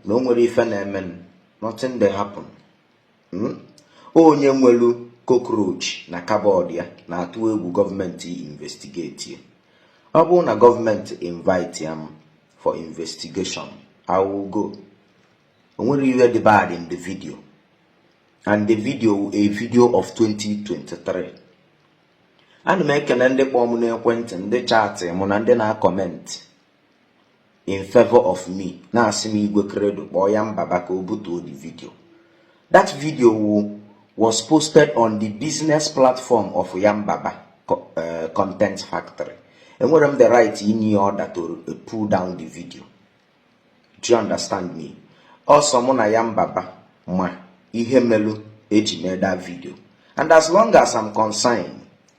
na o nwere ife na-eme nothing dey happen hmm? onye nwelu cockroach na cupboard ya na-atụ egwu gọọmenti investigate ya ọ bụrụ na gọọmenti invite m for investigation I will go o nwere ihe dị bad in the video and the video a video of 2023 ana m ekele ndị kpọọ m n'ekwentị ndị chat mụ na ndị na-acomment in favor of me na-asị m Igwe Credo kpọọ Yanbaba ka o butuo the video that video wu was posted on the business platform of Yanbaba eh, content factory enwerọ m the right inye ya order to eh, pull down the video do you understand me ọ sọ mụ na Yanbaba ma ihe melu eji mee that video and as long as I'm concerned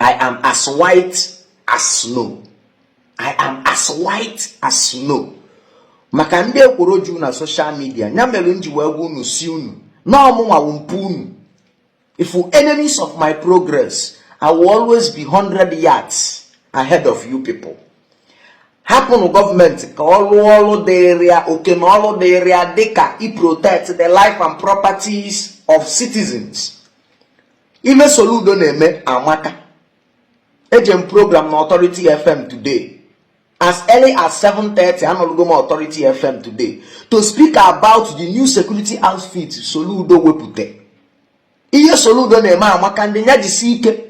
I am as white as snow I am as white as snow maka ndị ekworo ju na social media ya mere m ji wee gwa unu sị unu na ọ mụnwa wụ mpu unu if you enemies of my progress I will always be 100 yards ahead of you people hapụnụ gọọmenti ka ọ rụọ ọrụ dịrị ya oke na ọrụ dịrị ya dịka i protect the life and properties of citizens ihe Soludo na-eme amaka eje m program na Authority FM today as early as 7:30 anọlugo m Authority FM today to speak about the new security outfit Soludo wepụta ihe Soludo na-eme amaka ndị ya jisi ike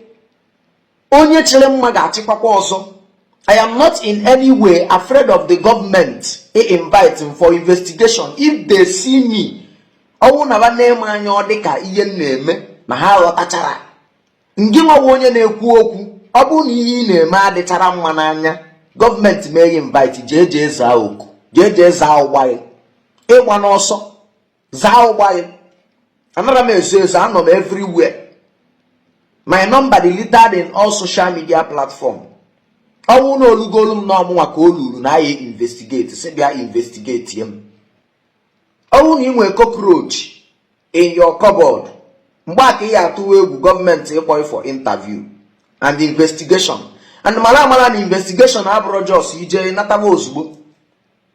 onye chịrị mma ga-achịkwakwa ọzọ I am not in any way afraid of the government ị invite m for investigation if they see me ọ wụ na ba na-eme anya ọ dịka ihe m na-eme na ha ghọtachara ngịnwa wụ onye na-ekwu okwu ọ bụrụ na ihe ị na-eme adịcharọ mma n'anya gọọmenti ma e invite jee jee zaa oku jee jee zaa ụgba ịgba n'ọsọ zaa ụgbọ anyị anarọ m ezo ezo anọ m everywhere my number dị littered in all social media platform ọ wụ na o lugolu m na ọ mụnwa ka o luru na a ya investigate sị bịa investigate m ọ wụ na ị nwee cockroach in your cupboard mgbe a ka ị ya atụwa egwu gọọmenti ịkpọ ị for interview and investigation and mara amara na investigation abụrọ just ị jee nataba ozugbo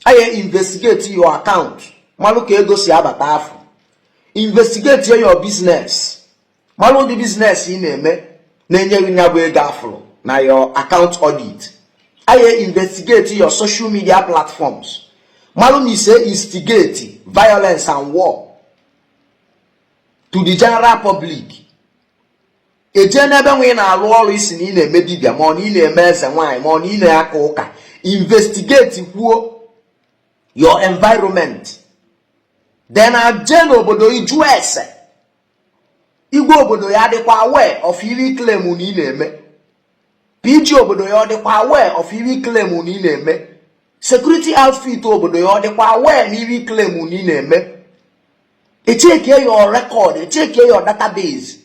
a ya investigate your account malụ ka ego si abata afụ investigate your business malụ ụdị business ị na-eme na-enye gị ya bụ ego a fụrụ na your account audit a ya investigate your social media platforms malụ ma i so instigate violence and war to the general public ejee n'ebe nwa ị na-alụ ọrụ ị sị na ị na-eme dibịa ma ọ na ị na-eme eze nwaanyị ma ọ na ị na-aka ụka investigate kwuo your environment then ejee n'obodo ịjụ ese igwe obodo ya dịkwa aware of iri claim na ị na-eme pg obodo yị ọ dịkwa aware of iri claim na ị na-eme security outfit obodo yị ọ dịkwa aware na iri claim na ị na-eme echeke your record echeke your database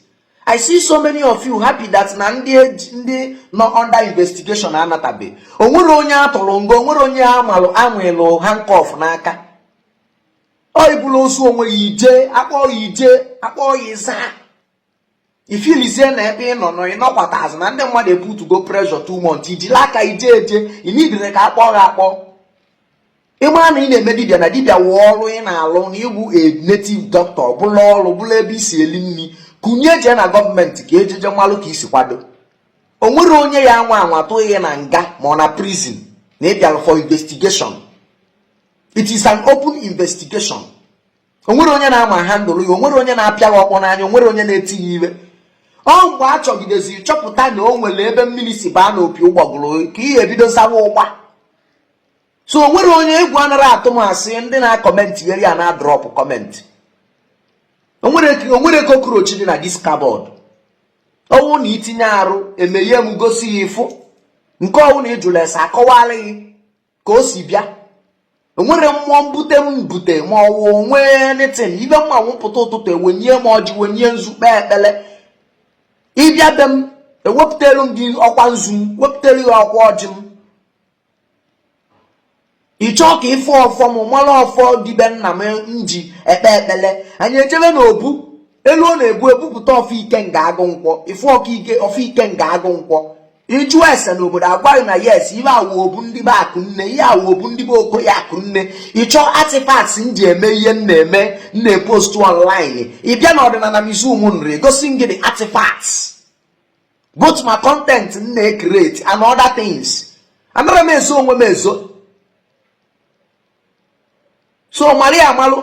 i see so many of you happy that na ndị e ndị nọ under investigation anatabe onwere onye atụrụ nga onwere onye amalụ anwelụ handcuff n'aka ọ ibulu ozu onwe yị ị jee akpọọ yị ị jee akpọọ yị ị zaa ị feelzie na ebe ị nọ nọ ịnọkwata azụ na ndị mmadụ ebutego pressure too much ị jili aka yị jee eje ị needirọ ka akpọ gị akpọ ịmara na ị na-eme dibia na dibia wụ ọrụ ị na-alụ na ịbụ a native doctor bụlụ ọrụ bụlụ ebe i si eli nni kunie jee na gọọmenti ka ejeje malụ ka i si kwado o nwere onye ya-anwa anwa tụọ ghị na nga ma ọ na prison na ịbịalụ for investigation it is an open investigation onwere onye na-amanhandle yị onwere onye na-apịa gị ọkpọ n'anya onwere onye na-eti yị ive ọ mgbe a chọgideziri chọpụta na o nwere ebe mmiri si baa n'opi ụgbọgụrụ ka ihe ebido sawa ụgba so o nwere onye egwu anara atụ m asị ndị na-acomment yeri ya na drop comment onwere cockroach dị na this cupboard ọwụ na itinye arụ emeghe m gosi yị ịfụ nke ọwụ na ịjụlụ ese akọwalụ gị ka o si bịa onwere mmụọ m bute ebute ma ọwụ onwe anything ive m ma wụ pụta ụtụtụ ewenye m ọjị wenye nzu kpee ekpele ịbịa be m ewepụtalụ m gị ọkwa nzu m wepụtalụ gị ọkwa ọjị m ịchọọ ka ịfụ ọfọ m mara ọfọ ndị be nna m ji ekpe ekpele anyị ejebe n'obu eluo n'obu ebupụta ọfọ ikenga agụ nkwọ ịfụ ọka ike ọfọ ikenga agụ nkwọ ịjụ ese n'obodo agwa ghị na yes ibe a wụ obu ndị be akụnne ihe a wụ obu ndị be okoye akụnne ịchọ artifacts m ji eme ihe m na-eme m na-epost online ịbịa na ọdịnana museum nri egosi m gị the artifacts both ma content m na-ekreti and other things anara m ezo onwe m ezo so mara ya amalụ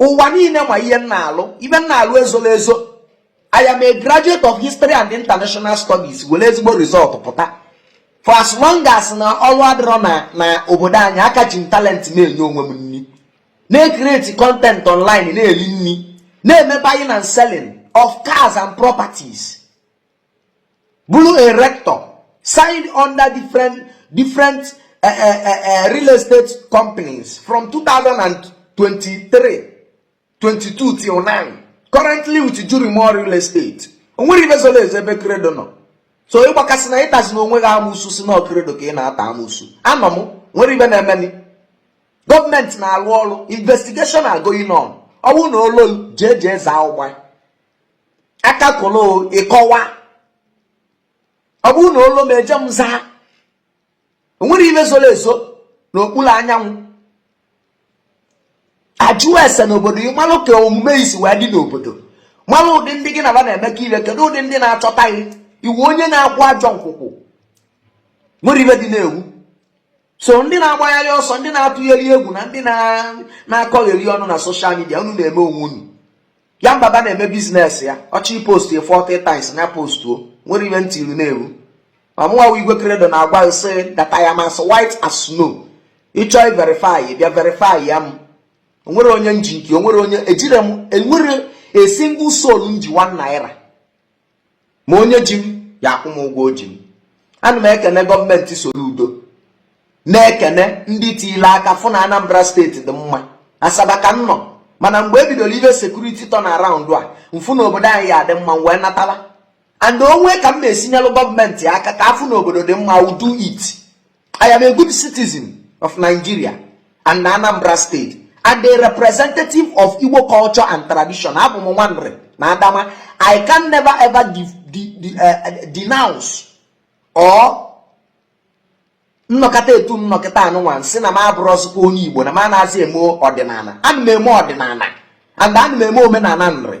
ụwa niile ma ihe m na-alụ ive m na-alụ ezora ezo I am a graduate of history and international studies were ezigbo result pụta for as long as na ọrụ adịrọ na na obodo anyị aka ji m talent na-enye onwe m nni na-ekreti content online na-eli nri na-eme buying and selling of cars and properties bụrụ a realtor signed under different different uh, uh, uh, real estate companies from 2023 22 till now currently with Jurimo real estate o nwere ibe zoro ezo ebe Credo nọ so ị gbakasị na ịtazi na onwe gị amusu sị na ọ Credo ka ị na-ata amusu anọ m nwere ibe na-emeni gọọmenti na-alụ ọrụ investigation are going on ọ wụrụ na o lu i jee jee zaa ụgba akakolo ịkọwa ọ bụrụ na o lu m eje m zaa o nwere ibe zoro ezo n'okpuru anyanwụ ajụọ ese n'obodo ị malụ ka omume i si wee dị n'obodo malụ ụdị ndị gị na ba na-emekọ ibe kedu ụdị ndị na-achọta gị iwu onye na-akwụ ajọ nkwụkwụ nwere ibe dị na-ewu so ndị na-agbagharị ọsọ ndị na-atụgheri egwu na ndị na-akọgheri ọnụ na social media unu na-eme onwe unu ya mbaba na-eme business ya ọ chọọ post ya 40 times na postuo nwere ibe ntị iru na-ewu ma mụnwa Igwe Credo na-agwa sị that I am as white as snow ị chọọ verify ya bịa verify ya m o nwere onye m ji nke o nwere onye ejire m enwere a single soul m ji 1 naira ma onye ji m ya akwụ m ụgwọ o ji m ana m ekene gọọmenti Soludo na-ekene ndị tiile aka fụ na Anambra State dị mma Asaba ka m nọ mana mgbe e bidoro ibe security turn around m fụ na obodo anyị ya adị mma m wee natala and o nwee ka m na-esi nyelụ gọọmenti aka ka a fụ na obodo dị mma I will do it I am a good citizen of Nigeria and Anambra State and a representative of Igbo culture and tradition abụ m nwa Nri na Adama I can never ever de de de uh, eh, denounce or m nọkata etu m nọkata a nụnwa sị na m abụrọzikwa onye Igbo na m anaghịzi eme ọdịnala ana m eme ọdịnala and ana m eme omenala Nri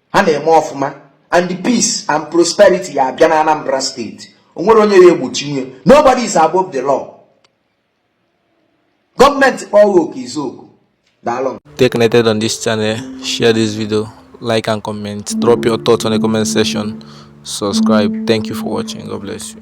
ha na-eme ọfụma and the peace and prosperity ya abịa na Anambra State o nwere onye ya egbochinwu ya nobody is above the law gọọmenti kpọọ oku ị zaa oku daalụ Stay connected on this channel, share this video, like and comment, drop your thoughts on the comment section, subscribe. Thank you for watching. God bless you.